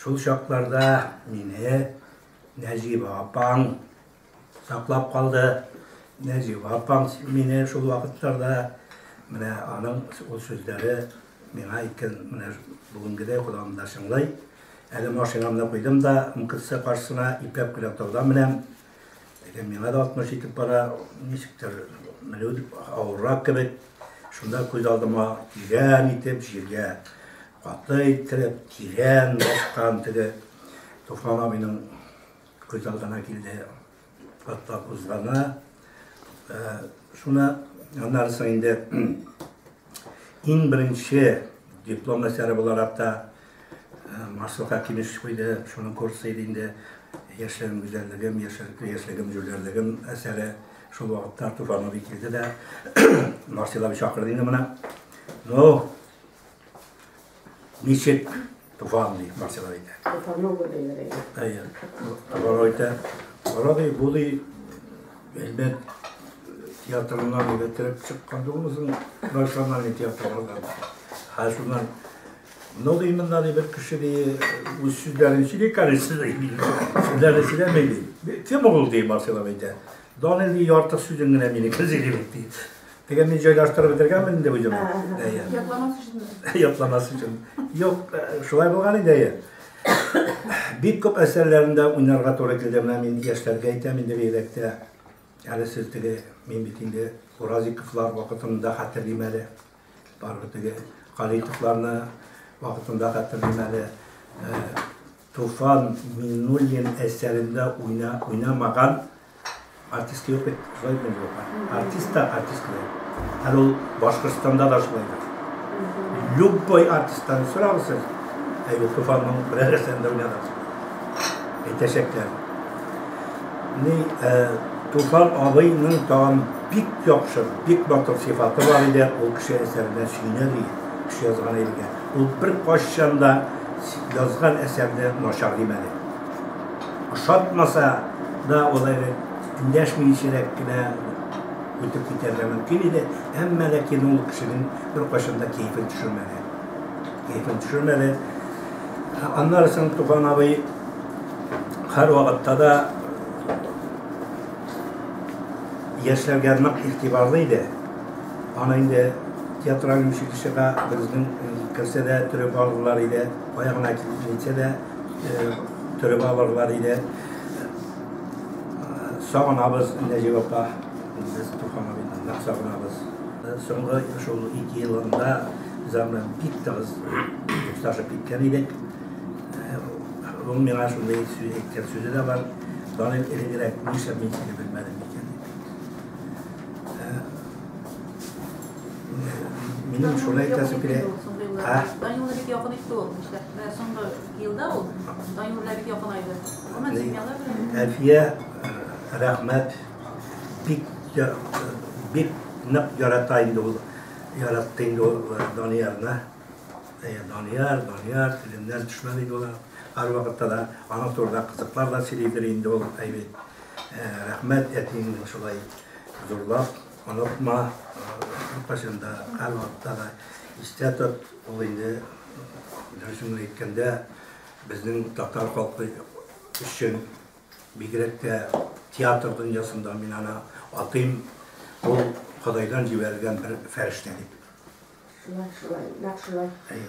Шул чакларда мине Нәҗибә апаң саклап калды. Нәҗибә апаң мине шул вакытларда менә аның ул сүзләре миңа әйткән менә бүгенгедәй колагымда чыңлый. Әле машинамны куйдым да МКЦ каршысына ипәк белән таудан менәм. Әгәр миңа да 60 итеп бара, ничектер милүд авыррак кебек, шунда күз алдыма тирән итеп җиргә каты иттереп, тирән баскан теге Туфан абыйның күз алдына килде. Хатта кузгана. Шуны аннарысы инде Иң беренче диплом әсәре буларак та Маслыка килеш куйды, шуның курсы иде инде яшьлегем гүзәллегем, яшьлегем җүләрлегем әсәре шул вакытта Артур Фанович килде дә Марселович чакырды инде моны. Ну, Ничек туган ди Марсилар әйтә. Туфанова диләр әйтә. Әйе. Алар әйтә. Карады, бу ди Әлмәт театрыннан егетереп чыккан дулысын национальный театрлардан. Һәр шуннан Ну, ди монда ди бер кеше ди үз сүзләрен сөйли карысы ди. Сүзләрен сөйләми ди. Кем ул ди Марсилар әйтә. Данил ди ярты сүзен генә минеке сөйли ди. Теге мин җайлаштырып бетергәнмен инде бу җырны. Әйе. Ятламас өчен. Ятламас өчен. Юк, шулай булган инде әйе. Бик күп әсәрләрендә уйнарга туры килде. Менә мин яшьләргә әйтәм инде бигрәктә. Әле сез теге мин бит инде Уразиковлар вакытында хәтерлим әле. Барыбер теге Калитовларны вакытында хәтерлим әле. Туфан Миннуллин әсәрендә уйнамаган артист юк бит, шулай бит бу. Артист та артист бит. Һәм ул Башкортстанда да шулай бит. Любой артисттан сорагыз сез. Әйе, Туфанның берәр әсәрендә уйнаган. Әйтәчәкләр. Ни, э, Туфан абыйның тагын бик яхшы, бик матур сыйфаты бар иде, ул кеше әсәрендә сөйнә ди, кеше язган илгә. Ул беркайчан да язган әсәрне начар димәде. Ошатмаса да ул әле эндәшмиенчәрәк кенә үтеп китәргә мөмкин иде, әмма ләкин ул кешенең беркайчан да кәефен төшермәде. Кәефен төшермәде. Аннары соң Туфан абый һәрвакытта да яшьләргә нык игътибарлы иде. Аны инде театраль училищега берүзенең керсә дә төреп алырлар иде, кая гына китсә дә төреп алырлар иде. Сагынабыз Нәҗип апа, без Туфан абыйны нык сагынабыз. Соңгы шул ике елында без аны бик тыгыз дуслашып киткән идек. Ул миңа шундый сүз әйткән сүзе дә бар, Данил, элегрәк нишләп мин сине белмәдем икән? Минем шулай әйтәсе килә. Данилга бик якын итте ул. Нишләп? Соңгы елда ул Данилга бик якын айды. Гомумән семьялар белән. Әлфия, рәхмәт. Бик бик нык ярата инде ул. Яратты инде ул Даниярны. Данияр, Данияр, телемнән төшмәде инде ул. Һәрвакытта да аңа турыда кызыклар да сөйлидер инде ул, әйбәт. Рәхмәт әтиеңне шулай зурлап онытма, һәркайчан да, һәрвакытта да истә тот. Ул инде, дөресен генә әйткәндә, безнең татар халкы өчен, бигрәк тә театр дөньясында мин аны атыйм, ул Ходайдан җибәрелгән бер фәрештә дип. Шулай, шулай, нәкъ шулай. Әйе.